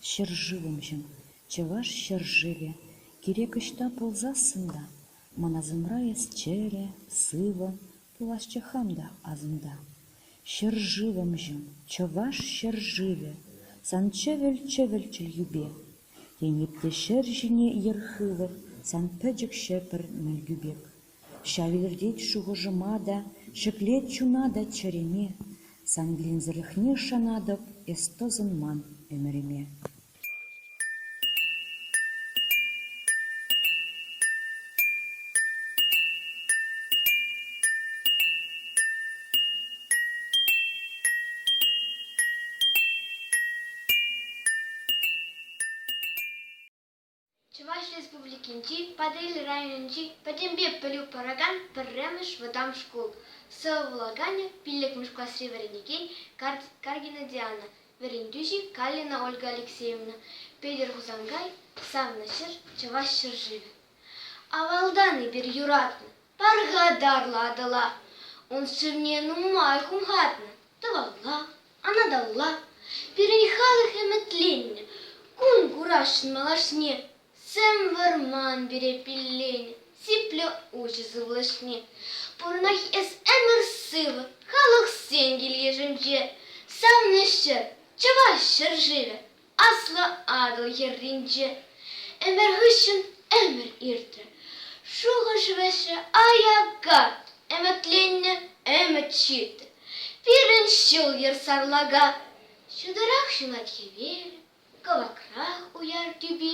Ҫӗршывӑмҫӑм, чӑваш ҫӗршывӗ, кирек ӑҫта пулсассӑн та, ман асӑмра эс чӗрӗ, сывӑ, пуласчӗ хам та асӑмта. Ҫӗршывӑмҫӑм, чӑваш ҫӗршывӗ, сан чӗвӗл-чӗвӗлччӗл юпе. Тен, эп те ҫӗр ҫине йӗр хывӑр, сан пӗчӗк ҫӗпӗр мӗлкӳ пек. Ҫав илӗртет шухӑшӑма та, ҫӗклет чуна та чӗреме, Сан вилӗмсӗрлӗхне шанатӑп эс тӑсӑнман ӗмӗрӗме. Чӑваш Республикинчи Патӑрьел районӗнчи пӗтӗмпе пӗлӳ паракан пӗрремӗш вӑтам шкул сывлӑханӗ пиллӗкмӗш класри вӗренекен Каргина Диана, вӗрентӳҫи Калина Ольга Алексеевна, Петӗр Хусанкай, савнӑ ҫӗр Чӑваш ҫӗршывӗ. Авалтан эпир юратнӑ пархатарлӑ Атӑла, ун сывне нумай хумхатнӑ тӑвалла, Анаталла, пирӗн халӑх ӗмӗтленнӗ кун курасшӑн малашне. Сӗм вӑрман пире пилленӗ сиплӗ уҫӑ сывлӑшне. Пурӑнать эс ӗмӗр-сывӑ халӑхсен кил-йышӗнче. Савнӑ ҫӗр, чӑваш ҫӗр-шывӗ Аслӑ Атӑл хӗрринче ӗмӗр хыҫҫӑн ӗмӗр иртрӗ. Шухӑш-вӗҫӗ аякка ӗмӗтленнӗ ӗмӗт ҫитрӗ. Пирӗн ҫул-йӗр сарлака, ҫутӑрах ҫунать хӗвел, кӑвакрах уяр тӳпи